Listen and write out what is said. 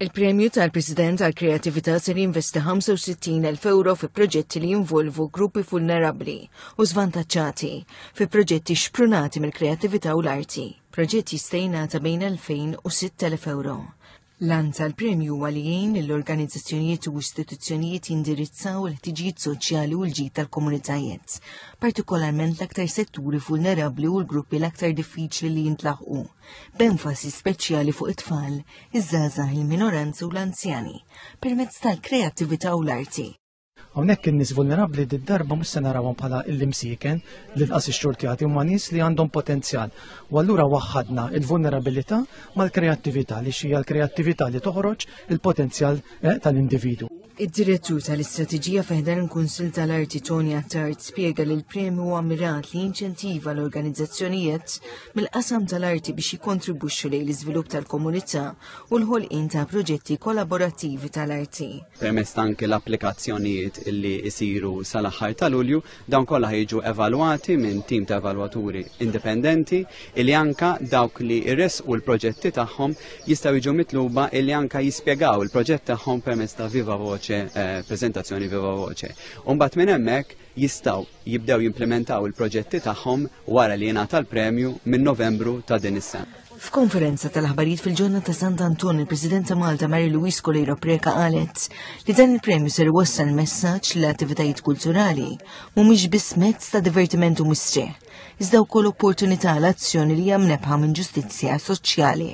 Il-premju tal-President għal kreativita ser jinvesti 65,000 euro fi proġetti li jinvolvu gruppi vulnerabli u zvantaċċati fi proġetti xprunati mill-kreativita u l-arti. Proġett jistejna ta' bejn 2000 u 6,000 euro. Lan tal-premju għalijin l-organizzazzjonijiet u istituzzjonijiet jindirizzaw l-ħtiġijiet soċjali u l-ġid tal-komunitajiet, partikolarment l-aktar setturi vulnerabli u l-gruppi l-aktar diffiċli li jintlaħqu b'enfasi speċjali fuq it-tfal, iż-żgħażagħ, il-minoranzi u l-anzjani, permezz tal-kreattività u l-arti. Hawnhekk in-nies vulnerabbli d darba mhux se narawhom bħala l-imsieken li lqas ix-xortjati huma nies li għandhom potenzjal. U allura waħħadna il-vulnerabilità mal-kreattività li xija l-kreattività li toħroġ il-potenzjal eh, tal-individu. Id-Direttur tal-Istrateġija fi ħdan il-Kunsill tal-Arti Tony Attard spjega li l-premju huwa mirat li jinċentiva l-organizzazzjonijiet mill-qasam tal-arti biex jikkontribwixxu lejn l-iżvilupp tal-komunità u l-ħolqien ta' proġetti kollaborattivi tal-arti. Permezz ta' anke l-applikazzjonijiet illi jsiru sal-aħħar ta' Lulju, Dawn kollha jiġu evalwati minn tim ta' evalwaturi indipendenti li anka dawk li jressqu l-proġetti tagħhom jistgħu jiġu mitluba li anka jispjegaw il-proġett tagħhom permezz ta' viva voce, eh, preżentazzjoni viva voce. Umbagħad minn hemmhekk jistgħu jibdew jimplementaw il-proġetti tagħhom wara li jingħata l-premju minn Novembru ta' din is-sena. F'konferenza tal-aħbarijiet fil-ġonna ta' Sant Anton, il-President ta' Malta Mary Louise Coleiro Preca qalet li dan il-premju ser wassal messaġġ li l-attivitajiet kulturali mhumiex biss mezz ta' divertiment u mistrieħ, iżda wkoll opportunità l azzjoni li hija mnebħa minn ġustizzja soċjali.